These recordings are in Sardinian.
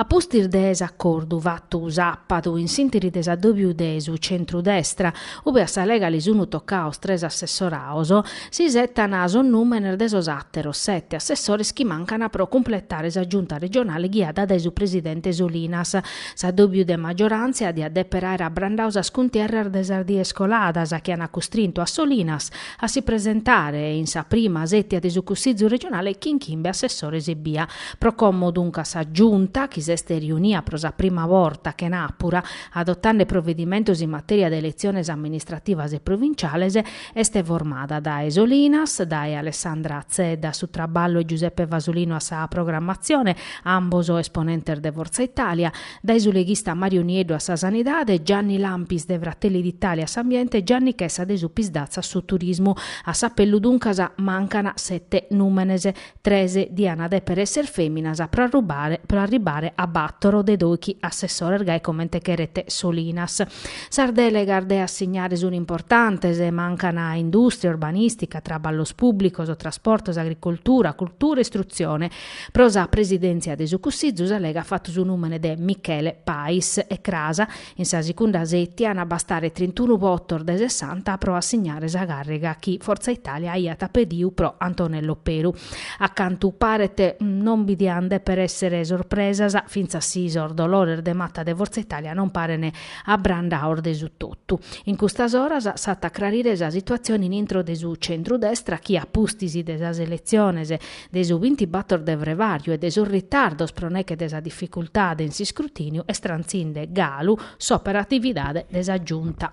A pustis de s'acordu fatu sàpadu in s'intiri de s'addòbiu de su centru-destra, ube a sa Lega li sunu tocados tres assessoraos, s'isetan sos nùmenes de sos àteros sete assessores chi mancan pro cumpletare sa Giunta regionale ghiada dae su presidente Solinas, S'addòbiu de maggioràntzia diat dèpere àere abrandau sas cuntierras de sas dies coladas chi ant custrintu a Solinas a si presentare in sa prima sètia de su Cussizu regionale chin chimbe assessores ebbia. Pro como duncas sa Giunta, chi s'est riunia pro sa prima borta chenàpura, adotande provedimentos in matèria de eletziones amministrativas e provinciales, Est formada dae Solinas, dae Alessandra Zedda a su traballu e Giuseppe Fasolino a sa programmatzione, ambos esponentes de Forza Italia, dae su leghista Mario Nieddu a sa Sanidade, Gianni Lampis de Fratelli d'Italia a s'Ambiente e Gianni Chessa de su Psd'Az a su Turismu. A s'apellu duncas mancana sete nùmenes. Tres diana deper esser feminas pro pro arribare a battoro de doichi assessores gai comente cheret Solinas. Sas delegas de assignare sun importantes, mancan industria, urbanistica, traballos publicos, trasportos, agricoltura, cultura, istruzione. Pro sa presidenzia de su Cussizu sa Lega at fattu su numene de Michele Pais e cras In sa sicunda sètia an a bastare trintunu votos de sessanta pro assignare sa càrriga chi Forza Italia aiat pediu pro Antonello Peru. A cantu paret non bi diant dèpere èssere sorpresas, fintzas si sos dolores de mata de Forza Italia non parene abrandaos de su totu. In custas oras s'at a crarire sa situatzione in intro de su centru-destra chi a pustis de sas eletziones de su bintibàtor de frevàriu e de sos ritardos pro neche de sa dificultade in s'iscrutìniu est trantzinde galu s'operatividade de sa Giunta.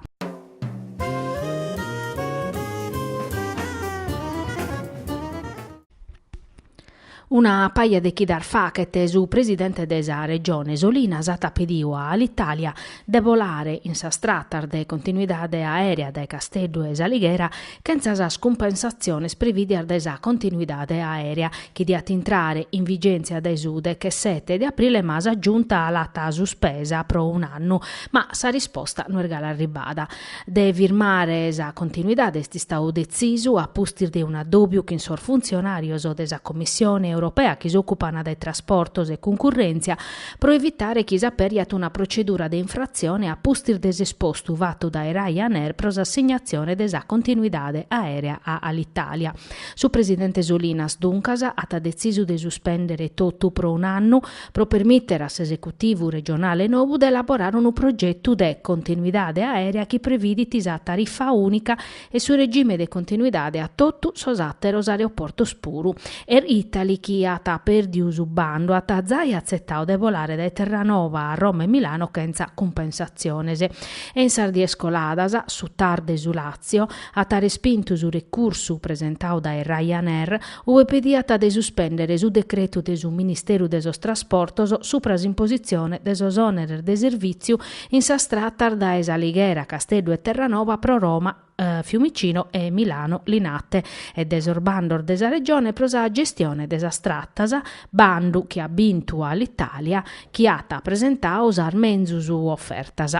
Una paja de chidas fachet su presidente de sa Regione Solinas at pediu a Alitalia de bolare in sas tratas de continuidade aèrea dae Casteddu e s'Alighera chentza sas cumpensatziones prevìdias dae sa continuidade aèrea chi diat intrare in vigèntzia dae su dechesete de aprile ma sa Giunta l'at suspesa pro un'annu ma sa risposta no est galu arribada. De firmare sa continuidade est istau detzisu a pustis de un'addòbiu chin sos funtzionàrios de sa Commissione europea chi s'òcupana de trasportos e cuncurrèntzia, pro evitare chi s'aperiat una procedura de infratzione a pustis de s'espostu fatu dae Ryanair pro s'assignatzione de sa continuidade aèrea a Alitalia. Su presidente Solinas, duncas, at detzisu de suspèndere totu pro un annu pro permìtere a s'esecutivu regionale nou de elaborare unu progetu de continuidade aèrea chi previdit sa tarifa ùnica e su regime de continuidade a totu sos àteros aeroportos puru. Air Italy, chi at perdiu su bandu, at zai atzetau de bolare dae Terranoba a Roma e Milano chentza cumpensatziones. E in sas dies coladas, su TAR de su Làtzio at respintu su recursu presentau dae Ryanair, ube pediat de suspèndere su decretu de su Ministeru de sos Trasportos supra s'impositzione de sos òneres de servìtziu In sas tratas dae S'Alighera, Casteddu e Terranoba pro Roma Fiumicino e Milano Linate e de sos bandos de sa Regione pro sa gestione de sas tratas, bandu chi at bintu Alitalia chi at presentau sas menzus ofertas.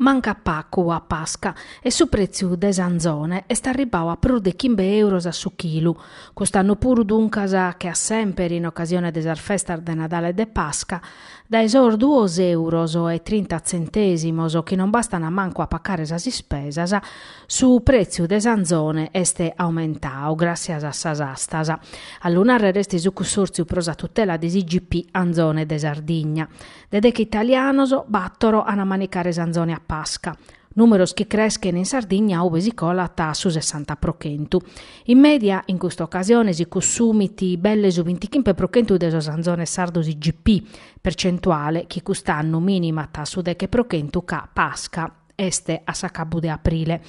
Mancat pacu a Pasca e su pretziu de s'anzone est arribbau a prus de chimbe euros a su chilu. Cust'annu puru duncas, che a semper in ocasione de sas festas de Nadale e de Pasca, dae sos duos euros e trinta tzentesimos, chi non bastana mancu a pacare sas ispesas, su pretziu de s'anzone est aumentau gràtzias a sas astas. A lu nàrrere est su Cussòrtziu pro sa tutela de s'IGP Anzone de Sardigna. De deche italianos, bàtoro an a manicare s'anzone a Pasca, nùmeros chi creschent in Sardigna ube si colat a su sessanta pro chentu. In mèdia, in custa ocasione si cussumit belle su bintichimpe pro chentu de sos anzones sardos IGP, percentuale chi cust'annu mìnimat a su deche pro chentu ca Pasca. Est a s'acabu de aprile.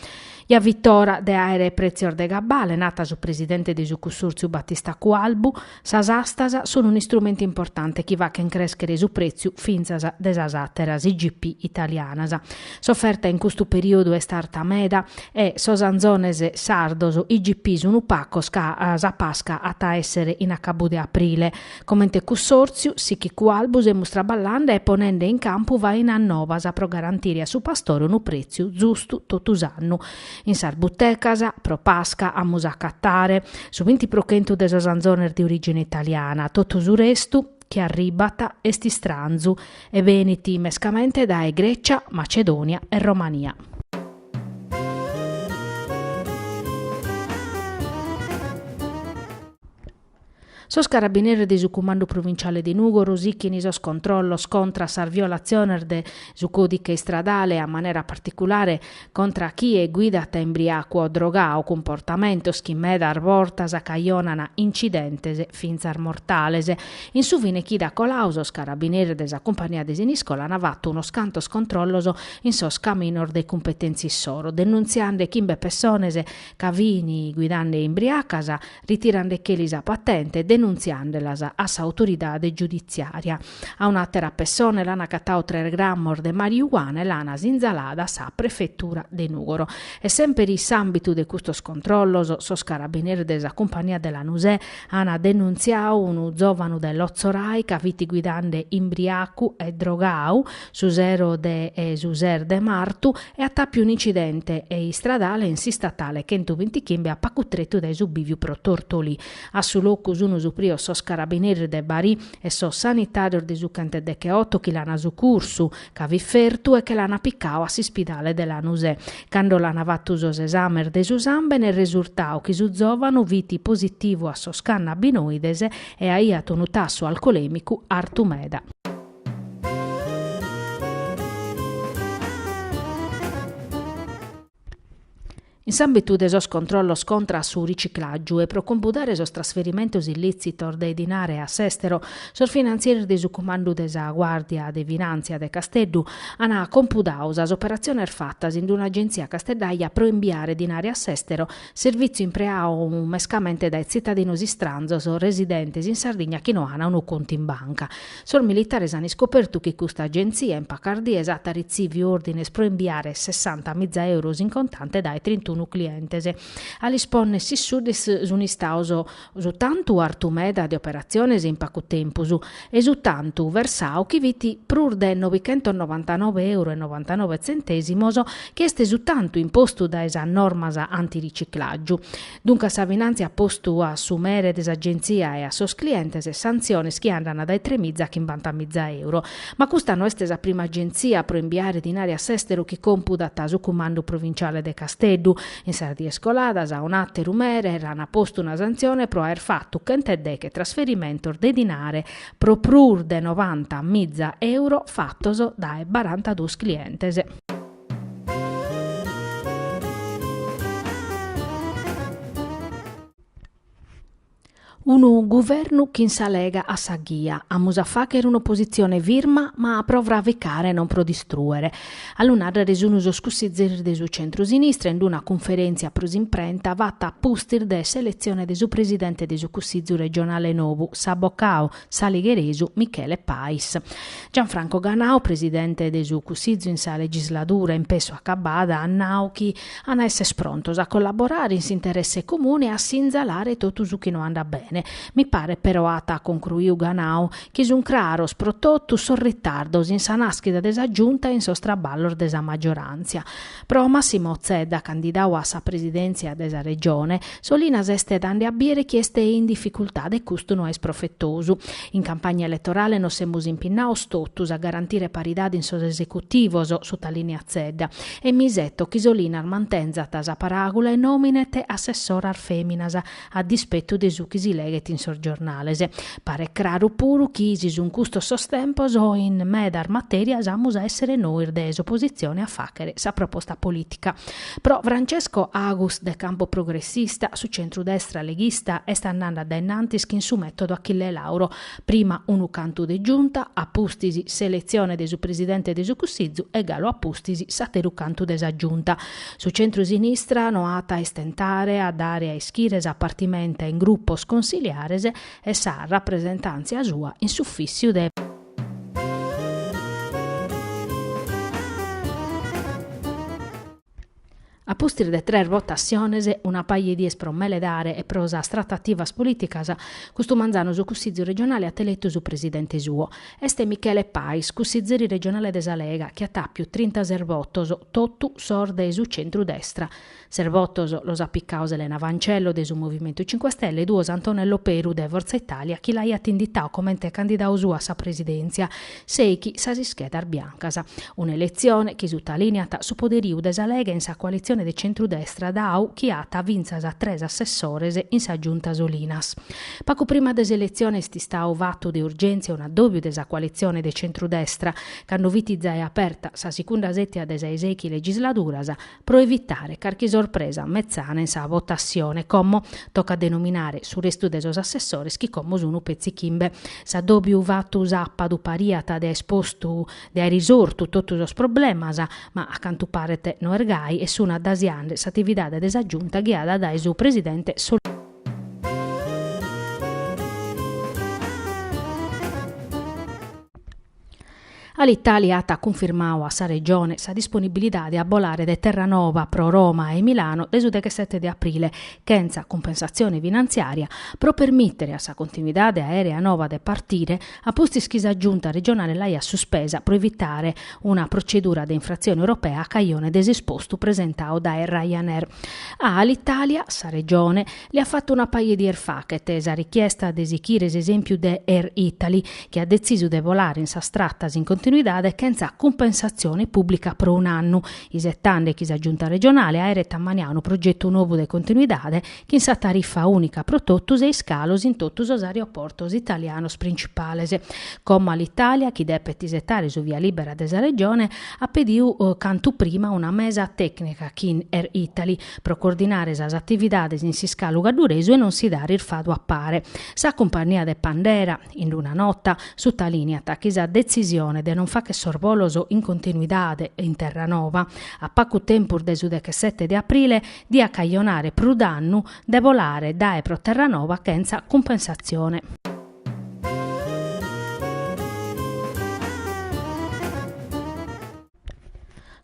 Ja fit ora de àere pretzios de gabbale, nat su presidente de su cussòrtziu Batista Cualbu, sas astas sun un'istrumentu importante chi fachen crèschere su prètziu fintzas de sas àteras IGP italianas. S'oferta in custu perìodu est arta meda e sos anzones sardos IGP sun pacos ca sa Pasca at a èssere in acabu de aprile. Comente cussòrtziu, sichit Cualbu, semus traballande e ponende in campu fainas nobas pro garantire a su pastore unu prètziu zustu totu s'annu. In sas butecas, pro Pasca, amus a acatare su binti pro chentu de sos anzones de orìgine italiana, totu su restu chi arribbat est istranzu e benit mescamente dae Grècia, Macedònia e Romania. Sos carabineris de su Cumandu Provintziale de Nùgoro sichint sos controllos contra sas violatziones de su còdiche istradale, a manera particulare contra chie guidat imbriacu o drogadu, cumportamentos chi medas bortas acajonant incidentes fintzas mortales. In su fine chida coladu sos carabineris de sa cumpania de Siniscola ant fatu unos cantos controllos in sos caminos de cumpetèntzia issoro, denuntziande chimbe pessones ca fini guidande imbriacas, ritirandecheli sa patente e denuntziandelas a s'autoridade giuditziària. A un'àtera pessone l'an acatados tres grammos de mariuana e l'an sinzalada a sa prefetura de Nùgoro. E semper in s'àmbitu de custos controllos, sos carabineris de sa cumpania de Lanusè an denuntziadu unu zòvanu de Lotzorai ca fit guidande imbriacu e drogadu, su sero de su ses de martu e at apiu un'incidente e istradale in s'istatale chentuvintichimbe a pacu tretu dae su biviu pro Tortolì. A su locu sunu suprios sos carabineris de Bari e sos sanitarios de su chentedecheoto chi l'ana sucursu, ca fit fertu e che l'ana picau a s'ispidale de Lanusè. Cando l'ana fatu sos esàmenes de su sàmbene est resurtau chi su zovanu fit positivu a sos cannabinoides e aiat unu tassu alcolemicu artu meda. In s'àmbitu de sos controllos contra a su riciclàgiu e pro compudare sos trasferimentos illìtzitos de dinare a s'èstero, sos finantzieris de su Cumandu de sa Guàrdia de Finàntzia de Casteddu ant compudadu sas operatziones fatas in un'agentzia casteddaja pro imbiare dinare a s'èstero, servìtziu impreadu mescamente dae tzitadinos istranzos residentes in Sardigna chi no ant unu contu in banca. Sos militares an iscopertu chi custa agentzia in pacas dies at ritzìviu òrdines pro imbiare sessanta miza euros in contante dae trintunu clientes. A lis ponner sisuddis sun istados su tantu artu meda de operatziones in pacu tempus e su tantu versadu chi fit prus de nobichentonovantanove euros e novantanove tzentèsimos chi est su tantu impostu dae sas normas antiriciclàgiu. Duncas sa Finantzia at postu a su mere de s'Agenzia e a sos clientes santziones chi andant dae tremiza a chimbantamiza euro. Ma custa no est sa prima agenzia pro imbiare dinare a s'èsteru chi compudat su cumandu provinciale de Casteddu. In sas dies coladas a un'àteru mere l'an postu una santzione pro aer fatu chent'e deghe trasferimentos de dinare pro prus de novanta miza euro fatos dae barantaduos clientes. Unu guvernu chin sa Lega a sa ghia. Amus a fagher un'opositzione firma ma pro fraficare e non pro distruere. A lu narrere sun sos cussizzeris de su centro-sinistra in d-una cunferèntzia pro s'imprenta fata a pustis de s'eletzione de su presidente de su Cussizzu regionale nou, s'abocadu, s'aligheresu Michele Pais. Gianfranco Ganau, presidente de su Cussizu in sa legisladura in pessu acabada, at nau chi an a esser prontos a collaborare in s'interesse comune e a sinzalare totu su chi no andat bene. Mi paret però, at concruiu Ganau, chi sunt craros pro totu sos ritardos in sa naschida de sa Giunta e in sos traballos de sa maggiorantzia. Pro Massimo Zedda, candidadu a sa presidèntzia de sa Regione, Solinas est dande a bìdere chi est in dificultade e custu no est profetosu. In campagna eletorale nos semus impinnados totus a garantire paridade in sos esecutivos, sutalìniat Zedda, e mi iseto chi Solinas mantenzat sa paràgula e nòminet assessoras fèminas, a dispetu de su chi si leghet in sos giornales. Paret craru puru chi si sun custos sos tempos in medas matèrias amus a èssere nois de s'opositzione a fàghere sa proposta polìtica. Pro Francesco Agus de Campo Progressista, su centru-destra leghista est andande a dae in antis chin su mètodu Achille Lauro, Prima unu cantu de giunta, a pustis s'eletzione de su Presidente de su Cussizu e galu a pustis s'ateru cantu de sa Giunta. Su centru-sinistra no at a istentare a dare a ischire sa partimenta in grupos consiliares e sa rapresentàntzia sua in s'ufìssiu de. A pustis de tres votassiones, una paja 'e dies pro meledare e pro sas tratativas polìticas, custu manzanu su Cussizu regionale at eletu su presidente suo. Est Michele Pais, cussizeri regionale de sa Lega, chi at àpiu trintases votos, totu sos de su centru-destra. Ses votos los at picados Elena Fancello de su Movimentu Cinque Stelle e duos Antonello Peru de Forza Italia chi l'aiat inditau comente candidadu suo a sa presidèntzia Sèighi sas ischedas biancas. Una eletzione chi sutalìniat su poderiu de sa Lega in sa coalitzione de centru-destra dau chi at fintzas tres assessores in sa Giunta Solinas. Pagu prima de s'eletzione est istau fatu de urgèntzia un'addòbiu de sa coalitzione de centru-destra, cando fit zae aperta sa sigunda sètia de sas sèighi legisladuras, pro evitare carchi sorpresa metzana in sa votassione, como tocat de nominare su restu de sos assessores chi como sun petzi chimbe. S'addòbiu fatu sapadu pariat de aer postu de aer isortu totu sos problemas, ma a cantu paret no est gai e sun addasiende s'atividade de sa Giunta ghiada dae su presidente Alitalia at cunfirmadu a sa Regione sa disponibilidade a bolare de Terranova pro Roma e Milano de su deghesete de aprile, chentza cumpensatzione finantziària, pro permìtere a sa continuidade aèrea nova de partire, a pustis chi sa Giunta regionale l'aiat suspesa pro evitare una protzedura de infratzione europea a cajone de s'espostu presentadu dae Ryanair. A Alitalia, sa Regione, Li at fatu una paja de dies fachet sa richiesta de sichire s'esempiu de Air Italy, chi at detzisu de bolare in sas tratas in continuidade chentza cumpensatzione pùblica pro un'annu, isetande chi sa Giunta regionale aeret ammaniadu unu progetu nobu de continuidade chin sa tarifa ùnica pro totus e iscalos in totu sos aeroportos italianos principales. Como Alitalia, chi depet isetare su via libera de sa Regione, at pediu cantu prima una mesa tècnica chin Air Italy, pro coordinare sas atividades in s'iscalu cadduresu e non si dare irfadu a pare. Sa cumpannia de bandera, in una nota, sutalìniat chi sa detzisione de non fàcher sos bolos in continuidade in Terranova, a pagu tempus de su dechesete de aprile, diat cajonare prus dannu de bolare dae e pro Terranova chentza cumpensatzione.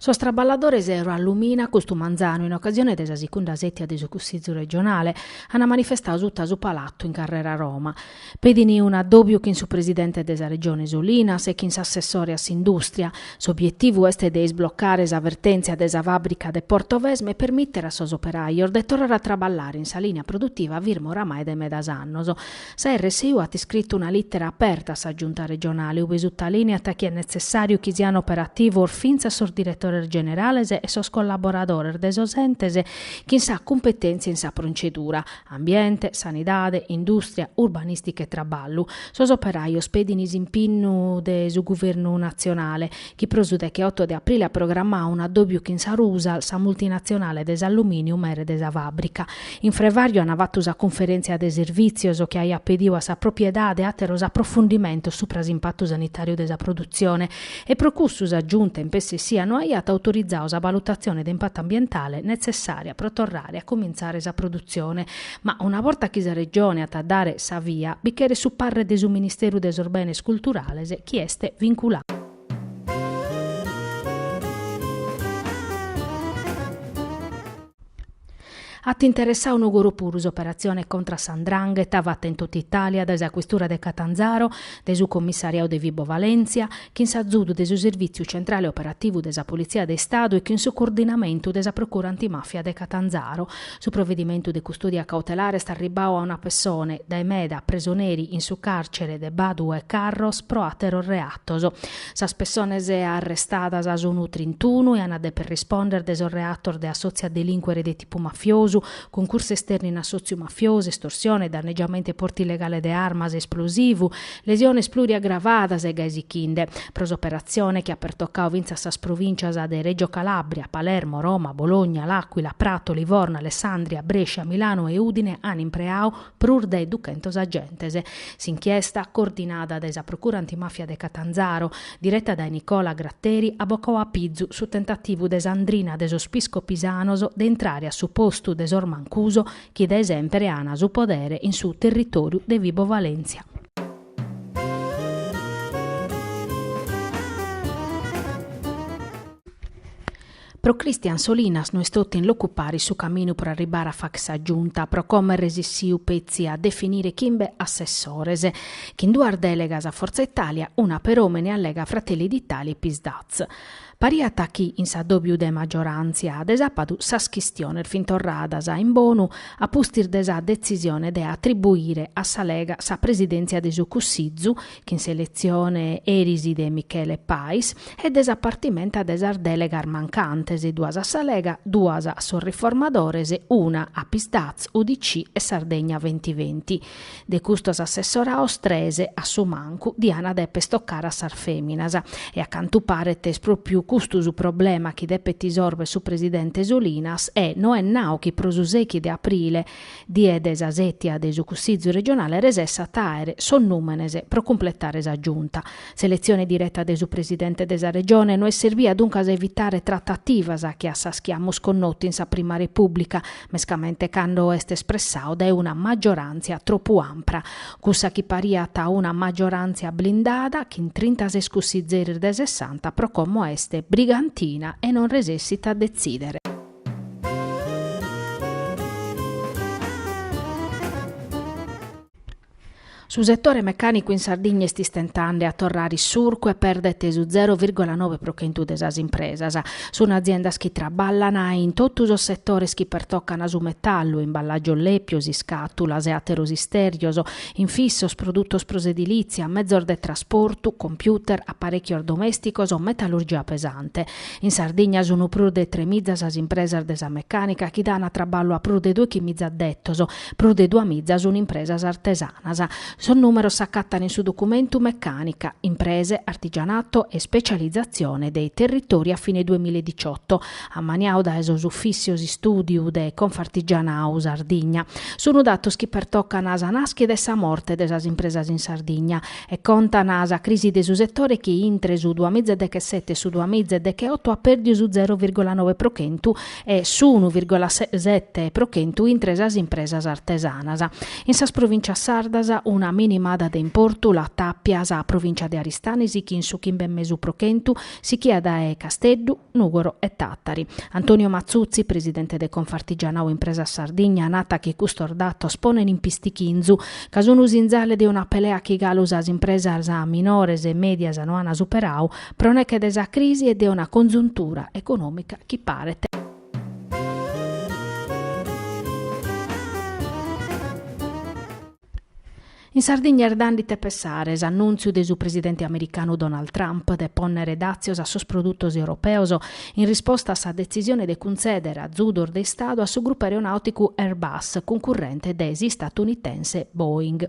Sos traballadores Eurallumina, custu manzanu, in ocasione de sa secunda sètia de su Cussizu regionale, ant manifestadu suta su Palatu in Carrera Roma. Pedint un'addòbiu chin su presidente de sa Regione Solinas e chin s'assessore a s'indùstria. S'obietivu est de isblocare sa vertèntzia de sa fàbrica de Portovesme e permìtere a sos operajos de torrare a traballare in sa lìnia produtiva firma oramai de medas annos. Sa RSU at iscritu una lìtera aperta a sa Giunta regionale ube sutalìneat chi est netzessàriu chi siant operativos fintzas sos diretores generales e sos collaboradores de sos entes chin sa cumpetèntzia in sa protzedura, ambiente, sanidade, indùstria, urbanìstica e traballu. Sos operajos pedin s'impinnu de su guvernu natzionale chi pro su dechioto de aprile at programmadu un'addòbiu chin sa Rusal, sa multinatzionale de s'allumìniu mere de sa fàbrica. In Frevàriu ant fatu sa cunferèntzia de servìtzios chi aiat pedidu a sa propriedade àteros aprofundimentos supra s'impatu sanitàriu de sa produtzione e pro cussu sa Giunta in pessu essia no aiat autorizadu sa valutatzione de impatu ambientale netzessària pro torrare a cumintzare sa produtzione Ma una borta chi sa Regione at a dare sa via, bi cheret su parre de su Ministeru de sos Benes Culturales chi est vinculadu. At interessadu Nùgoro puru s'operatzione contra sa 'ndrangheta fata in totu Itàlia dae sa Questura de Catanzaro, dae su Commissariadu de Vibo Valentia, chin s'azudu de su Servìtziu Centrale Operativu de sa Politzia de Istadu e chin su coordinamentu de sa Procura Antimafia de Catanzaro, Su provedimentu de custòdia cautelare est arribbau a una pessone, dae meda, presoneri in su càrcere de Badu 'e Carros pro àteros reatos. Sas pessones arrestadas sunu trintunu e an a deper rispònder de sos reatos de assòtziu a delìncuere de tipu mafiosu, cuncursu esternu in assòtziu mafiosu, estorsione, dannegiamentu e portu illegale de armas e esplosivu, Lesiones pluriaggravadas e gai sichinde. Pro s'operatzione chi at pertocau fintzas sas provìncias de Règio Calàbria, Palermo, Roma, Bologna, L'Àquila, Prato, Livorno, Alessandria, Brescia, Milano e Ùdine an impreau prus de duchentos agentes. S'inchiesta, coordinada dae sa Procura Antimafia de Catanzaro, direta dae Nicola Gratteri, at bocau a pizu su tentativu de sa 'ndrina de sos Piscopisanos de intrare a su postu de sos Mancuso chi dae semper ana su podere in su territoriu de Vibo Valentia. Pro Christian Solinas no est totu in locu paris su caminu pro arribare a facher sa Giunta, pro como est resessiu petzi a definire chimbe assessores. Chin duas delegas a Forza Italia, una per òmine a Lega, Fratelli d'Italia e Psd'Az. Pariat chi in s'addòbiu de maggioràntzia de sàpadu sas chistiones fin torradas in bonu a pustis de sa detzisione de atribuire a sa Lega sa presidèntzia de su Cussizu chin s'eletzione eris de Michele Pais e de sa partimenta de sas dèlegas mancantes, duas a sa Lega, duas a sos Riformadores, una a Psd'Az, UDC e Sardegna Ventiventi. De custos assessoraos tres, a su mancu, dian deper tocare a sas feminas. E a cantu paret est propriu custu su problema chi depet isorber su presidente Solinas e no est nau chi pro su sechi de aprile, die de sa setia de su Cussizu regionale resessat a aer sos numenes pro cumpletare sa Giunta. S'eletzione direta de su presidente de sa Regione no est serbia duncas a evitare tratativas che a sas chi amus connotu in sa prima Repubblica mescamente cando est espressau dae una maggiorantzia tropu ampra, cussa chi pariat una maggiorantzia blindada chin trintases cussizzeris de sessanta pro como est brigantina e non resessit a detzidere. Su setore mecànicu in Sardigna est istentande a torrare a surcu e perdet su zero vìrgola nobe pro chentu de sas impresas. Sunt aziendas chi traballan in totu sos setores chi pertocan su metallu, imballàgios lèpios, iscàtulas e àteros istèrgios, infissos, produtos pro s'edilìtzia, mezos de trasportu, computer, aparèchios domèsticos, metallurgia pesante. In Sardigna sunt prus de tremiza sas impresas de sa mecànica chi dan traballu a prus de doichimiza addetos Prus de duamiza sunt impresas artesanas. Sos nùmeros s'acatan in su documentu Meccanica, imprese, artigianato e specializzazione dei territori a fine duemiladiciotto, ammaniau dae sos Ufìssios Istùdiu de Confartigianau Sardigna. Sunt datos chi pertocan sa nàschida e sa morte de sas impresas in Sardigna e contan sa crisi de su setore chi intre su duamiza e dechesete e su duamiza e decheoto at pèrdiu su zero virgola noe pro chentu e su unu virgola sete pro chentu intre sas impresas artesanas. In sas provìncias sardas una minimada de importu la tàpiat sa provìncia de Aristanis chin su chimbe e mesu pro chentu sichia dae Casteddu, Nùgoro e Tàtari. Antonio Matzutzi, presidente de Confartigianau Impresas Sardigna, nat chi custos datos ponen in pistichinzu ca sun sinzale de una pelea chi galu sas impresas minores e mèdias no an superau pro neche de sa crisi e de una congiuntura econòmica chi paret. In Sardigna est dande ite pessare s'annùntziu de su presidente americanu Donald Trump de pònnere dàtzios a sos produtos europeos in risposta a sa detzisione de cuntzèdere azudos de Istadu a su grupu aeronàuticu Airbus, cuncurrente de s'istadunitense Boeing.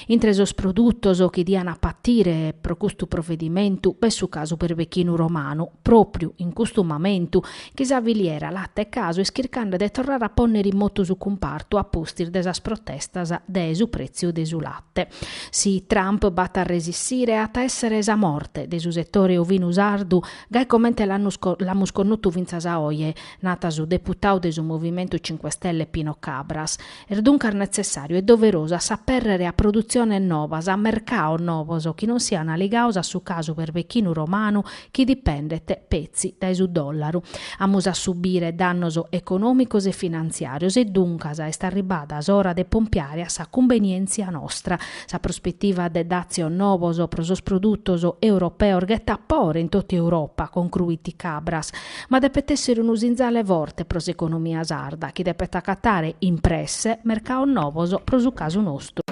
Intre sos produtos chi dian a patire pro custu provedimentu b'est su casu berbechinu romanu, pròpriu in custu mamentu chi sa filiera late e casu est chircande de torrare a pònnere in motu su cumpartu a pustis de sas protestas de su prètziu de su late. Si Trump b'at a resissire at a èssere sa morte de su setore ovinu sardu gai comente l'amus connotu fintzas a oje, nat su deputau de su Movimentu Cinque Stelle Pino Cabras. Est duncas netzessàriu e doverosu a s'apèrrere a produtziones novas, a mercaos novos chi non siant aligaos a su casu berbechinu romanu chi dipendet, petzi, dae su dòllaru. Amus a subire dannos econòmicos e finantziàrios e duncas est arribada s'ora de pompiare a sa cumbenièntzia nostra. Sa prospetiva de dàtzios novos pro sos produtos europeos ghetat pore in tota Europa, concruit Cabras. Ma depet èssere unu sinzale forte pro s'economia sarda chi depet acatare in presse mercaos novos pro su casu nostru.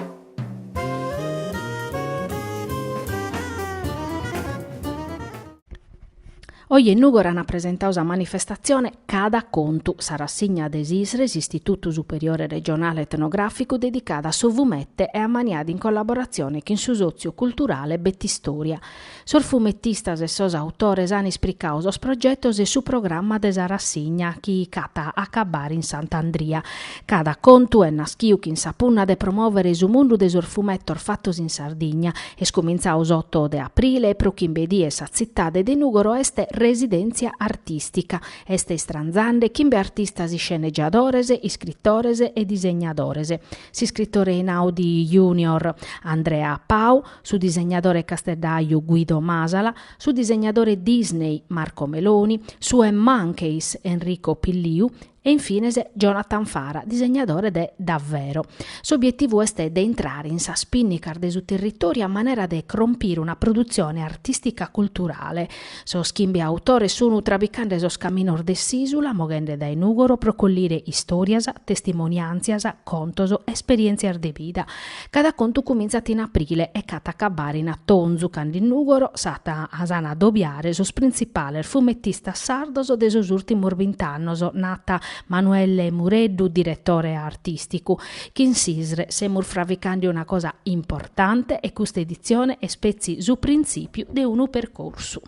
Oje in Nùgoro ant presentau sa manifestatzione Cada contu, sa rassigna de s'ISRE, s'Istitutu Superiore Regionale Etnogràficu, dedicada a su fumete e ammaniada in collaboratzione chin su sòtziu culturale Betistòria. Sos fumetistas e sos autores an ispricadu sos progetos e su programma de sa rassigna chi ch'at a acabare in Sant'Andria. Cada contu est naschiu chin sa punna de promòvere su mundu de sos fumetos fatos in Sardigna. Est cumintzadu s'oto de aprile e pro chimbe dies sa tzitade de Nùgoro est residèntzia artìstica. Est istranzende chimbe artistas iscenegiadores, iscritores e disegnadores. S'iscritore Einaudi Junior, Andrea Pau, su disegnadore casteddaju Guido Masala, su disegnadore Disney Marco Meloni, su eMonkeys Enrico Pilliu e in fines Jonathan Fara, disegnadore de Davvero. S'obietivu est de intrare in sas pinnicas de su territòriu a manera de crompire una produtzione artìstica-culturale, Sos chimbe autores sunu travigande sos caminos de s'ìsula, moghende dae Nùgoro pro collire istòrias, testimoniàntzias, contos, esperièntzias de bida. Cada contu cumintzat in aprile e ch'at a acabare in atonzu, cando in Nùgoro s'ant a addobiare sos printzipales fumetistas sardos de sos ùrtimos bint'annos, narat Manuelle Mureddu, diretore artìsticu. Chin s'ISRE semus fravicande una cosa importante e custa editzione est petzi su printzìpiu de unu percorsu.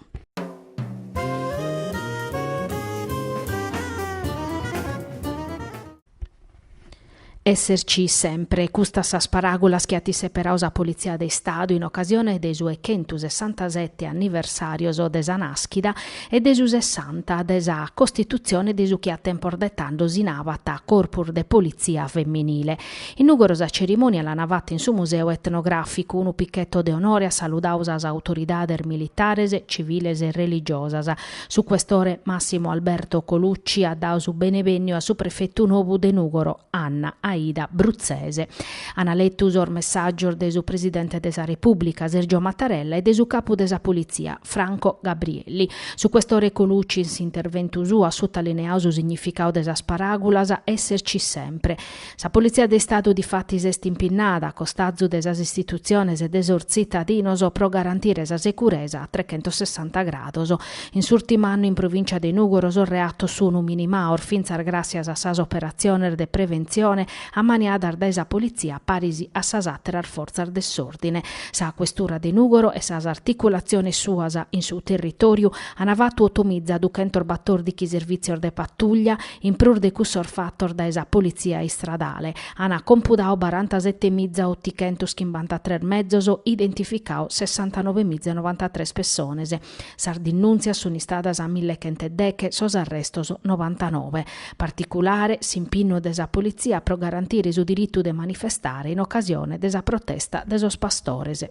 Esserci sempre, custas sas paràgulas chi at seperadu sa Politzia de Istadu in ocasione de sos chentu sessantasete anniversàrios de sa nàschida e de su sessanta de sa costitutzione de su chi a tempos de tando si nabat Corpus de Politzia Feminile. In Nùgoro sa cerimònia l'ana fata in su Museu Etnogràficu, unu picheto de onore at saludadu sas autoridades militares, civiles e religiosas. Su Questore Massimo Alberto Colucci at dadu su benevènniu a su prefetu nou de Nùgoro, Anna Aida Bruzzese. Ana letu sos messàgios de su presidente de sa Repùblica, Sergio Mattarella, e de su capu de sa Politzia, Franco Gabrielli. Su questore Colucci in s'interventu suo at sotalineadu su significadu de sas paràgulas èsserci sempre. Sa Politzia de Istadu difatis est impinnada, a costazu de sas istitutziones e de sos tzitadinos, pro garantire sa seguresa a trechentossessanta grados. In s'ùrtimu annu in provìncia de Nùgoro sos reatos sunu minimados fintzas gràssias a sas operatziones de preventzione, ammaniadas dae sa politzia paris a sas àteras fortzas de s'òrdine. Sa questura de Nùgoro e sas articulatziones suas in su territòriu ant fatu otomiza duchentos batòrdighi servìtzios de patuglia, in prus de cussos fatos dae sa politzia istradale, ant compudadu barantasete miza otichentos chimbanta tres mezos, identificadu sessantanove miza e novantatres pessones. Sas dinnùntzias sunt istadas a mille chent'e deche, sos arrestos novantanove. Particulare s'impinnu de sa politzia pro garantire su diritu de manifestare in ocasione de sa protesta de sos pastores.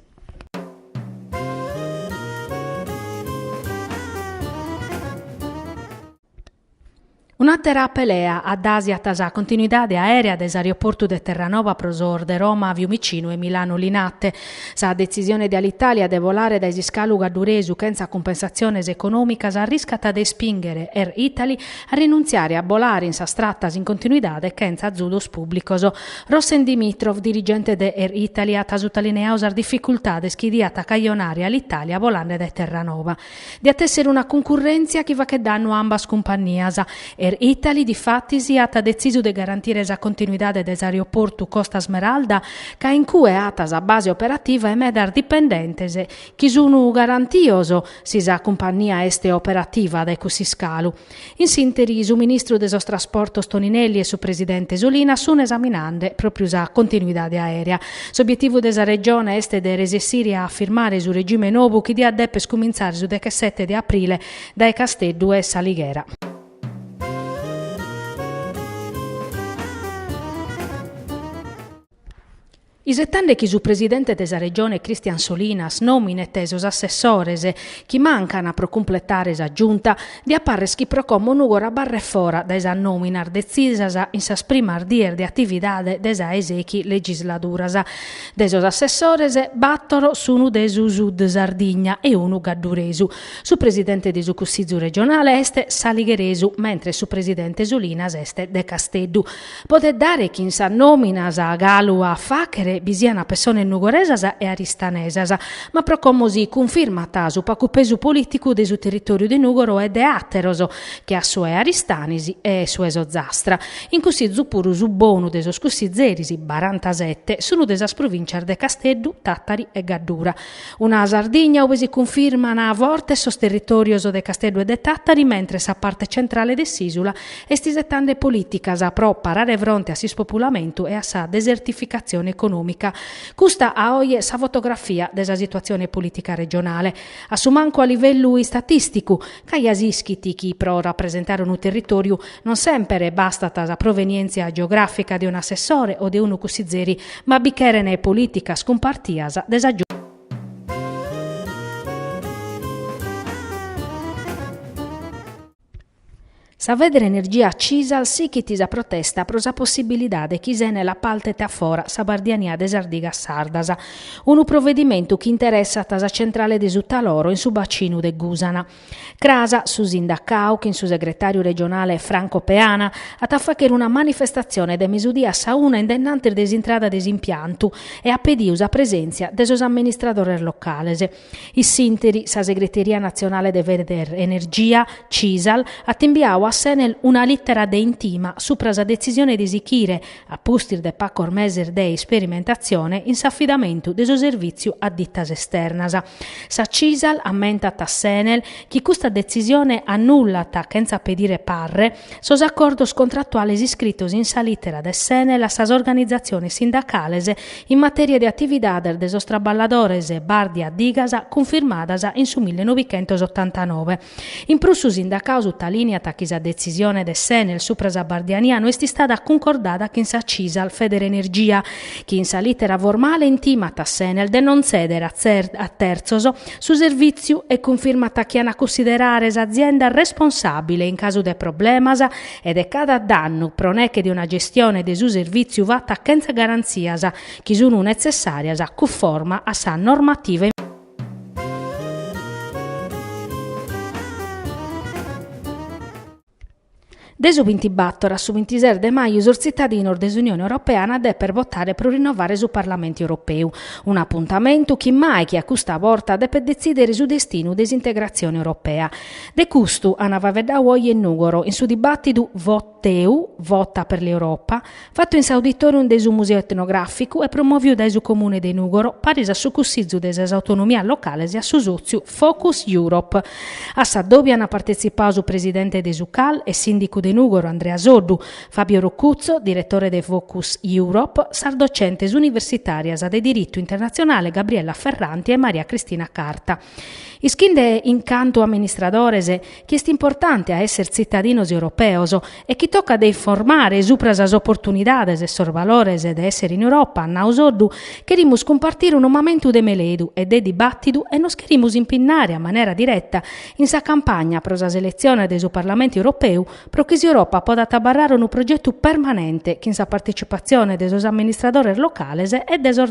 Un'àtera pelea addàsiat sa continuidade aèrea de s'aeroportu de Terranova pro sos de Roma, Fiumicinu e Milanu Linate. Sa detzisione de Alitalia de volare dae s'iscalu gadduresu chentza cumpensatziones econòmicas arriscat de ispìnghere Air Italy a rinuntziare a bolare in sas tratas in continuidade chentza azudos pùblicos. Rossen Dimitrov, dirigente de Air Italy, at sutalineadu sas dificultades chi diat cajonare Alitalia bolande dae Terranova. Diat èssere una cuncurrèntzia chi fachet dannu a ambas cumpannias. Air Italy, difatis, at detzisu de garantire sa continuidade de s'aeroportu Costa Smeralda, ca in cue at sa base operativa e medas dipendentes, chi sun garantios si sa cumpannia est operativa dae cuss'iscalu. In s'interi su ministru de sos Trasportos Toninelli e su presidente Solinas sun esaminande pròpiu sa continuidade aèrea. S'obietivu de sa Regione est de resessire a afirmare su regime nobu chi diat dèpere cumintzare su dechesete de aprile dae Casteddu e S'Alighera. Isetande chi su presidente de sa Regione Christian Solinas nòminet sos assessores chi mancana pro cumpletare sa Giunta, diat parrer chi pro como Nùgoro barret fora dae sas nòminas detzisas in sas primas dies de atividade de sa 'e sechi legisladuras. De sos assessores, battoro sunu de su Sud Sardigna e unu gadduresu. Su presidente de su Cussizu Regionale est saligheresu, mentres su presidente Solinas est de Casteddu. Potet dare chi in sas nòminas galu a fàchere bi siant pessones nugoresas e aristanesas, ma pro como si cunfirmat su pacu pesu polìticu de su territòriu de Nùgoro e de àteros, che a su 'e Aristanis e su 'e s'Ozastra. In Cussizu puru su bonu de sos cussizeris, barantasete, sun de sas provìncias de Casteddu, Tàtari e Gaddura. Una Sardigna ue si cunfirman fortes sos territòrios de Casteddu e de Tàtari, mentres sa parte centrale de s'ìsula Est isetande polìticas pro parare fronte a s'ispopulamentu e a sa desertificatzione econòmica. Custa a oje sa fotografia de sa situatzione polìtica regionale. A su mancu a livellu istatìsticu, ca ja s'ischit chi pro rapresentare unu territòriu non semper bastat sa provenièntzia geogràfica de un'assessore o de unu cussizeri, ma bi cherent polìticas cumpartias de sa Sa Federenergia Cisal sichit sa protesta pro sa possibilidade chi s'Enel apartet a fora sa bardiania de sas digas sardas, unu provedimentu chi interessat sa centrale de su Taloro in su bacinu de Gusana. Cras, su sindacau chin su segretàriu regionale Franco Peana, at a fàghere una manifestatzione de mesudie a sa una indennantis de s'intrada de s'impiantu e at pediu sa presèntzia de sos amministradores locales. In s'ìnteri, sa Segreteria Natzionale de Federenergia Cisal at imbiau a s'Enel una lìtera de intima supra sa detzisione de sichire, a pustis de pacos meses de isperimentatzione, in s'afidamentu de su servìtziu a ditas esternas. Sa Cisal ammentat a s'Enel chi custa detzisione annullat, chentza pedire parre, sos acordos contrattuales iscritos in sa lìtera de s'Enel a sas organizatziones sindacales in matèria de atividades de sos traballadores bàrdia digas cunfirmadas in su mille novichentos otantanove. In prus su sindacau sutalìneat chi sa detzisione de s'Enel supra sa bardiania no est istada cuncordada chin sa Cisal Federenergia, chi in sa lìtera formale intimat a s'Enel de non tzèdere a tertzos su servìtziu e cunfirmat chi ant a cunsiderare s'azienda responsàbile in casu de problemas e de cada dannu pro neche de una gestione de su servìtziu fata chentza garantzias chi sunu netzessàrias cunforma a sa normativa in De su bintibator a su bintises de maju sos tzitadinos de s'Unione Europea depen botare pro rinnovare su Parlamentu Europeu, un'apuntamentu chi mai che a custa borta depet detzìdere su destinu de s'integratzione europea. De custu an faveddau oje in Nùgoro in su dibàtidu Voteu, Vota per l'Europa, fatu in s'auditòrium de su Museu Etnogràficu e promòviu dae su Comune de Nùgoro paris a su Cussizu de sas Autonomias Locales e a su sòtziu Focus Europe. A s'adòbiu an partetzipau su presidente de su CAL e sìndicu de Nùgoro Andrea Soddu, Fabio Roccuzzo, diretore de Focus Europe, sas dotzentes universitàrias de Diritu Internatzionale Gabriella Ferranti e Maria Cristina Carta. Ischinde in cantu amministradores chi est importante a esser tzitadinos europeos e chi tocat de informare supra sas oportunidades e sos valores de esser in Europa, at nau Soddu, cherimus cumpartire unu mamentu de meledu e de dibàtidu e nos cherimus impinnare a manera direta in sa campagna pro sas eletziones de su Parlamentu Europeu pro chi s'Europa podat abarrare unu progetu permanente chin sa partetzipatzione de sos amministradores locales e de sos